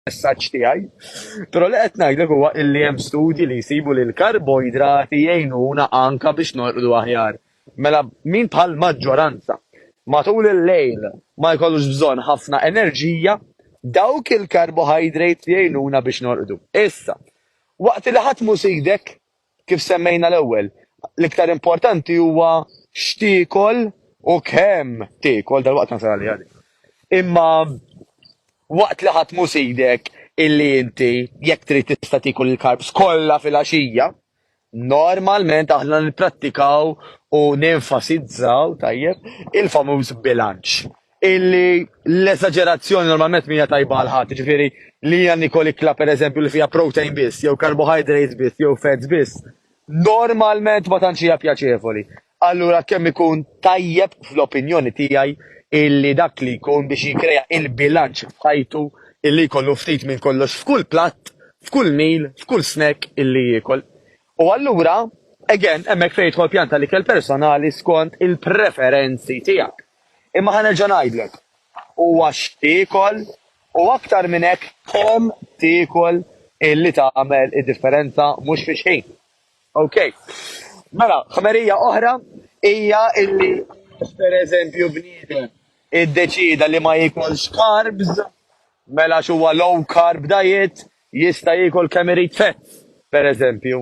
messaġġ tiegħi. Però li qed ngħidlek huwa illi hemm studji li jsibu li l-karboidrati jgħinuna anka biex norqdu aħjar. Mela min bħal maġġoranza matul il-lejl ma jkollux bżonn ħafna enerġija, dawk il-karbohajdrate jgħinuna biex norqdu. Issa, waqt li ħadd mhu sidek, Kif semmejna l-ewwel, l-iktar importanti huwa x'tiekol u kemm tiekol, dalwaqt nasal għaliha din. Imma waqt li ħadd mhu sidek illi inti jekk trid tista' tiekol il-carbs kollha filgħaxija, normalment aħna nipprattikaw u nenfasizzaw, tajjeb, il-famuż bilanċ. illi l-eżagerazzjoni normalment mija tajba għal ħadd, ġifieri li hija nikol ikla pereżempju li fiha protein biss, jew carbohydrates biss, jew fats biss, normalment ma tantx hija pjaċevoli. Allura kemm ikun tajjeb fl-opinjoni tiegħi illi dak li jkun biex jikrea il-bilanċ f'ħajtu illi jkollu ftit minn kollox f'kull platt, f'kull mil, f'kull snack illi jiekol. U allura, again, hemmhekk fejn jidħol pjan ta' l-ikel personali skont il-preferenzi tiegħek. Imma ħa nerġa' ngħidlek, huwa x'tiekol u aktar minn hekk kemm tiekol illi tagħmel id-differenza mhux fi xħin. Ok. Mela, ħmerija oħra hija illi jekk pereżempju bniedem iddeċieda li ma jiekolx carbs, mela għax huwa low carb diet, Jista' jiekol kemm irid fats, per eżempju,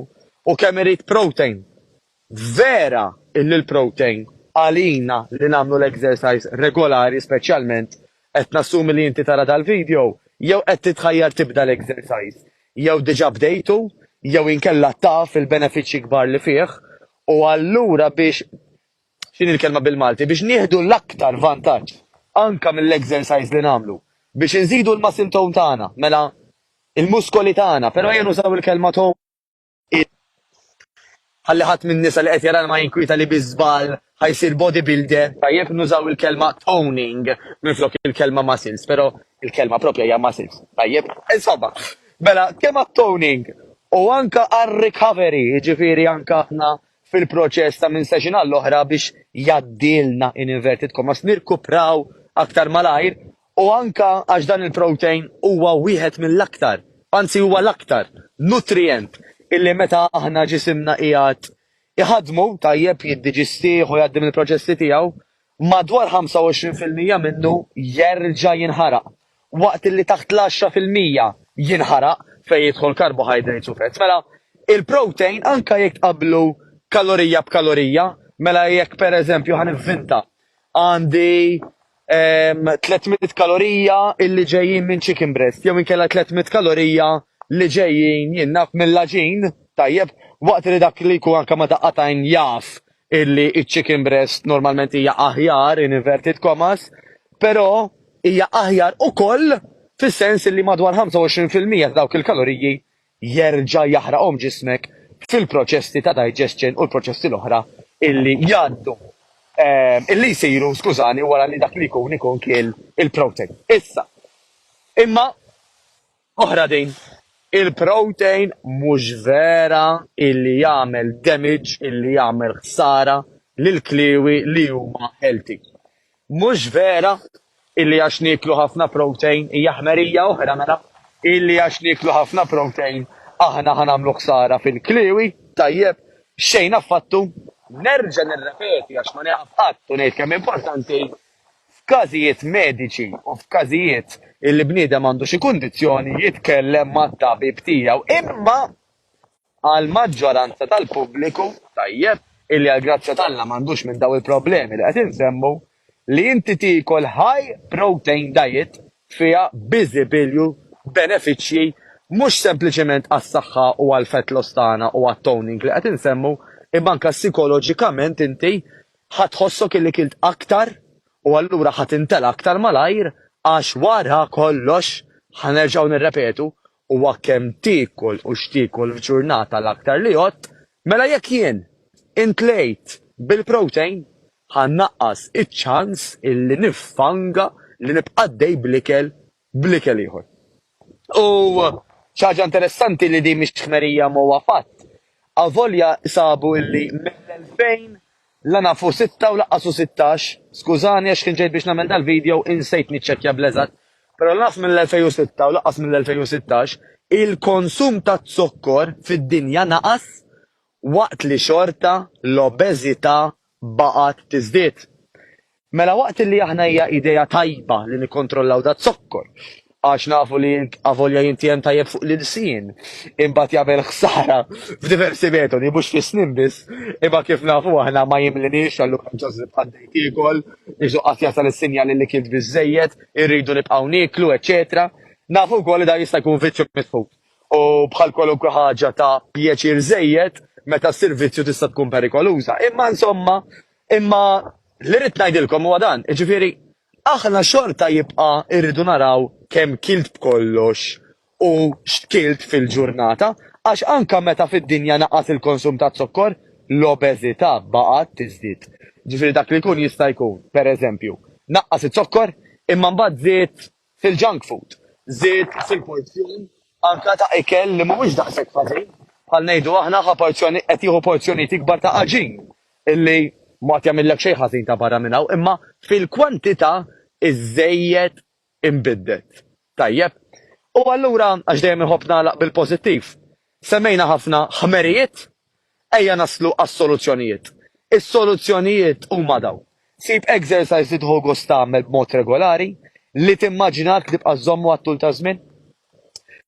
u kemm irid protein. Vera illi l-protein, għalina li nagħmlu l-exercise regolari speċjalment, qed nassumi li inti tara dal-video jew qed titħajjar tibda l-exercise, jew diġa bdejtu, jew inkella taf il-benefiċċji kbar li fih, u allura biex x'inhi l-kelma bil-Malti, biex nieħdu l-aktar vantaġġ anke mill-exercise li nagħmlu biex inżidu l-muscle tone tagħna, mela l-muskoli tagħna, però ejja nużaw il-kelma tone ħalli ħadd min-nisa li qed jarana ma jinkwieta li bi żball ħa jsir bodybuilder. Tajjeb nużaw il-kelma toning minflok il-kelma muscles, però il-kelma proprja hija muscles. Tajjeb? Insomma, mela kemm għat-toning u anke għar-recovery, jiġifieri anke aħna fil-proċess ta' minn season għall-oħra biex jgħaddilna in inverted commas nirkupraw aktar malajr u anke għax dan il-protein huwa wieħed mill-aktar, anzi huwa l-aktar, nutrijent illi meta aħna ġisimna qiegħed iħaddmu tajjeb jiddiġistih u jgħaddi mill-proċessi tiegħu. Madwar 25 fil-mija minnu jerġa' jinħaraq, waqt li taħt l-għaxra fil-mija jinħaraq fejn jidħol carbohydrates u fats. Mela, il-protein anke jekk tqabblu kalorija b'kalorija, mela jekk per eżempju ħa nivvinta għandi 300 kalorija illi ġejjin minn chicken breast jew inkella 300 kalorija li ġejjin jien naf mill-għaġin, tajjeb, waqt li dak li jkun anke ma' daqqa tajn jaf illi ċ-chicken breast normalment hija aħjar in inverted commas, però hija aħjar ukoll fis-sens illi madwar 25 fil-mija ta' dawk il-kaloriji jerġa' jaħraqhom ġismek fil-proċessi ta' digestion u l-proċessi l-oħra illi jgħaddu illi jsiru, skużani, wara li dak li jkun ikun kiel il-protein. Issa, imma Oħra din. Il-protein mhux vera illi jagħmel damage illi jagħmel ħsara lil kliewi li huma healthy. Mhux vera illi għax nieklu ħafna protein hija ħmerija oħra mela illi għax nieklu ħafna protein aħna ħa nagħmlu ħsara fil-kliewi, tajjeb, xejn affattu. Nerġa' nirrepeti għax ma nieqaf qatt u ngħid kemm importanti f'każijiet mediċi u f'każijiet illi bniedem għandu xi kundizzjoni jitkellem mat-tabib tiegħu imma għall-maġġoranza tal-pubbliku tajjeb illi għall-grazzja t'Alla m'għandux minn dawn il-problemi li qed insemmu li inti tiekol high protein diet fiha biżibilju benefiċċji mhux sempliċement għas-saħħa u għall-fat loss tagħna u għat-toning li qed insemmu imma anke sikoloġikament inti Ħa tħossok illi kilt aktar u allura ħa tintela' aktar malajr għax wara kollox, ħa nerġgħu nirrepetu, huwa kemm tiekol u x'tiekol f'ġurnata l-aktar li jgħodd, mela jekk jien intlejt bil-protein, ħa nnaqqas iċ-ċans illi nifanga li nibqa' għaddej bl-ikel bl-ikel ieħor. U xi ħaġa interessanti li din mhix ħmerija imma huwa fatt, avolja sabu illi mill-elfejn la naf u sitta u laqqas u sittax, skużani għax kien ġejt biex nagħmel dal-video u insejt niċċekkja bl-eżatt, però la naf mill-elfejn u sitta u laqqas mill-elfejn u sittax, il-konsum taz-zokkor fid-dinja naqas waqt li xorta l-obeżità baqgħet tiżdied. Mela waqt li aħna hija idea tajba li nikkontrollaw daz-zokkor, għax nafu li avolja jintiegħem tajjeb fuq l-ilsien, imbagħad jagħmel ħsara f'diversi metodi mhux fis-snien biss, imma kif nafu aħna ma jimliniex allura ġożlipp għaddej tiekol, Ġesù qatt jasal is-sinjali li kilt biżżejjed, irridu nibqgħu nieklu, eċċetera Nafu wkoll li dan jista' jkun viċċju mitħud. u bħal kwalunkwe ħaġa ta' pjaċir żejjed, meta ssir vizzju tista' tkun perikoluża. Imma insomma, imma li rrid ngħidilkom huwa dan, jiġifieri aħna xorta jibqa' rridu naraw kemm kilt b'kollox u x'kilt fil-ġurnata, għax anke meta fid-dinja naqas il-konsum taz-zokkor, l-obeżità baqgħet tiżdied. Jiġifieri dak li jkun jista' jkun, pereżempju, naqqas iz-zokkor imma mbagħad żied fil-junk food, żied fil-porzjon anke ta' ikel li mhuwiex daqshekk ħażin, bħal ngħidu aħna ħa porzjoni qed jieħu porzjonijiet ikbar ta' għaġin li ma għad jagħmillek xejn ħażin ta' barra minn hawn, imma fil-kwantità iżżejjed inbiddet. Tajjeb. U allura, għax dejjem inħobb nagħlaq bil-pożittiv, semmejna ħafna ħmerijiet Ejja naslu għas-soluzzjonijiet. Is-soluzzjonijiet huma dawn, sib exercise li tieħu gost tagħmel b'mod regolari, li timmaġinah li tibqa' żżommu għat-tul taż-żmien.